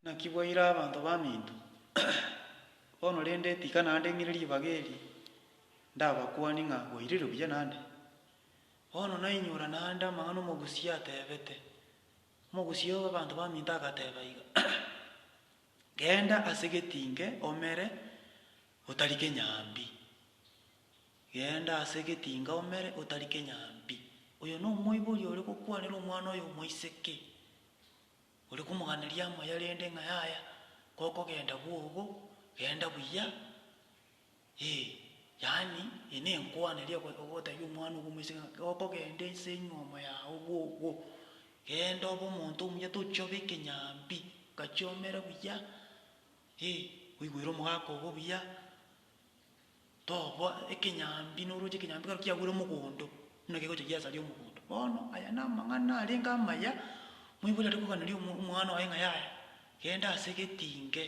Naki bwaire abanto baminto. Bono rende tika naende ng'ire ribaga eri, ndabakwanie ng'a bwairire buya naende. Bono nainyora naende amang'ana omogusia atebete. Omogusia bw'abanto baminto agateba iga, Genda ase getinge omere, otarike nyambi. Genda ase getinge omere, otarike nyambi. Oyo nomoibori ore gokwanera omwana oyo omoiseke. Ore komoganeria amoya rende ng'a yaya gokogenda bwogo, genda buya, ee, yaani eye nenkwana eria ogo- ogotebia omwana obo omoiseke ng'a gokogenda ense enyomo yao bwogo, genda obe omonto omuya tochia obe ekenyambi, gachia omere buya, ee, oigwere omogaka obo buya. toboa ekenyambi noroche ekenyambi kero kiagwere omogondo, buna kegocha giasaria omogondo. Bono aya namang'ana arenge amaya, moibori are koganeria omo omwana oye ng'a yaya, genda ase egetinge,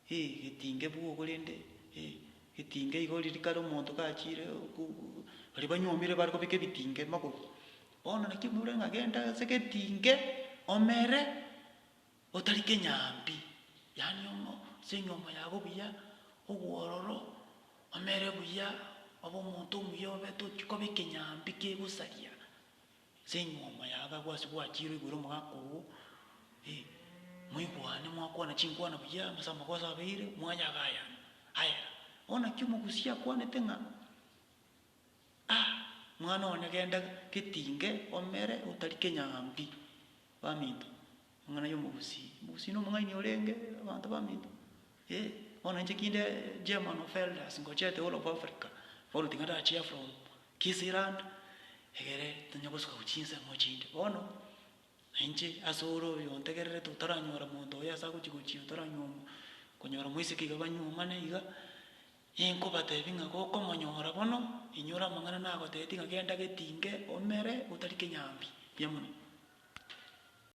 eh egetinge bwo korende eh egetinge igo riria kare omonto kachiire okobu baria banyuomire bare kobeka ebitinge magoro. Bono naki omoibori are ng'a genda ase egetinge omere. Otari kenyambi, yaani omo, ase enyomo yabo buya, obwororo, omere buya, obe omonto omuya obe tochi koba ekenyambi kegosaria ase enyomo yabo agwo ase gwachire oigure omogaka ogo, eh, moigwane mwakwana chinkwana buya amase amagoso abeire, mwayagayana, aye bono naki omogusia akwanete ng'a. A! Mwana one genda getinge omere otari kenyambi. Baminto, Amang'ana y'omogusii. Omogusii na omong'aini orenge abanto baminto. Ee, bono inche kinde German of Elders ngochete whole of Africa, bono tiga ndachia from Kisirand egere tonya gosuka gochia chinsemo chinde. Bono nainche ase ore oyo ontegererete otaranyora monto oyo ase agochi gochia otaranywa konyora moiseke iga banyuomane iga. Inkobateebia ng'a gokomonyora bono, inyore amang'ana nagoteetie ng'a genda getinge, omere, otari kenyambi. Mbuya mono.